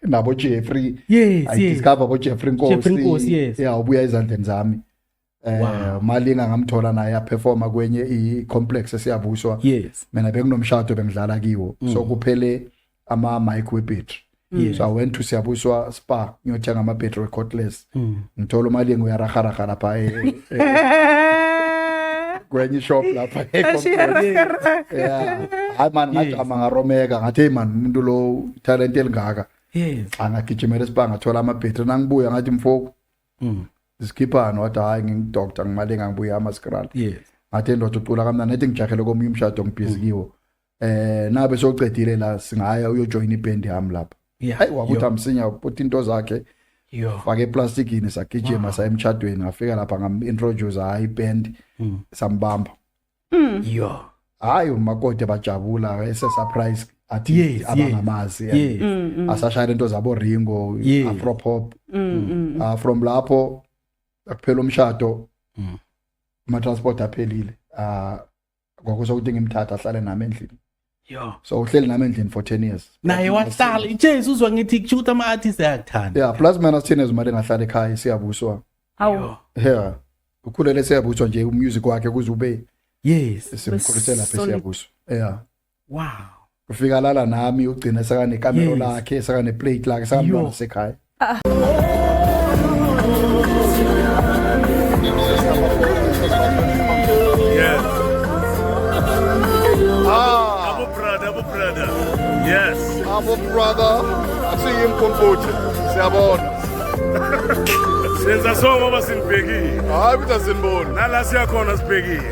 nabo Jeffrey yes, I yes. discover bo Jeffrey Nkosi Jeffrey Nkosi yes yeah ubuya ezandleni zami eh wow. malinga ngamthola naye a performa kwenye i complex esiyabuswa yes mina benginomshado bengidlala kiwo mm. so kuphele ama mic we battery yes. so i went to siyabuswa spa ngiyothenga ama battery cordless mm. ngithola umalinga uyaraharaha lapha e, e, e, kwenye ishop lapha hayi mani ngajama ngaromeka ngathi heyi mani umuntu lo talent elingaka angagijimela esibanga ngathola amabhetri nangibuya ngathi mfoku mm. zikhiphani wathi hhayi ngingidokta ngimalinga ngibuya amaskral ngathi endoda ucula kamnani ethi ngijahele komunye umshado ngibhizi kiwo eh nabe soqedile la singaya uyojoin iband yami lapha hayi wakuthi amsinya uputi into zakhe fake eplastikini sagijima sa emtshadweni ngafika lapha ngam-introduce hayi iband hmm. sambamba hmm. yo hayi umakoti bajabula esesurprise athi abangamazi hmm, asashayela into zabo ringo afropop ah, from lapho akuphela umshado ama-transport aphelile ah, kwakusho ukuthi ngimthatha ahlale nami endlini yo so uhleli nami endlini for 10 years naye wahlala ijesu uzwa ngithi kusho ukuthi ama-artist ayakuthanda yeah plus minus 10 years mali ngahlala ekhaya siyabuswa awu yeah ukhulele siyabuswa nje umusic wakhe kuze ube yes simkhulisela lapha siyabuswa yeah wow ufika lala nami ugcina sakane camera Yes. lakhe sakane plate lakhe sakamntwana Yo. sekhaya Yes. Ah, Abu brother, Abu brother. Yes. abo brother asiyimkhumbuthi siyabona Senza songo basingibhekile. hayi ukuthi asiniboni Nala siyakhona sibhekile.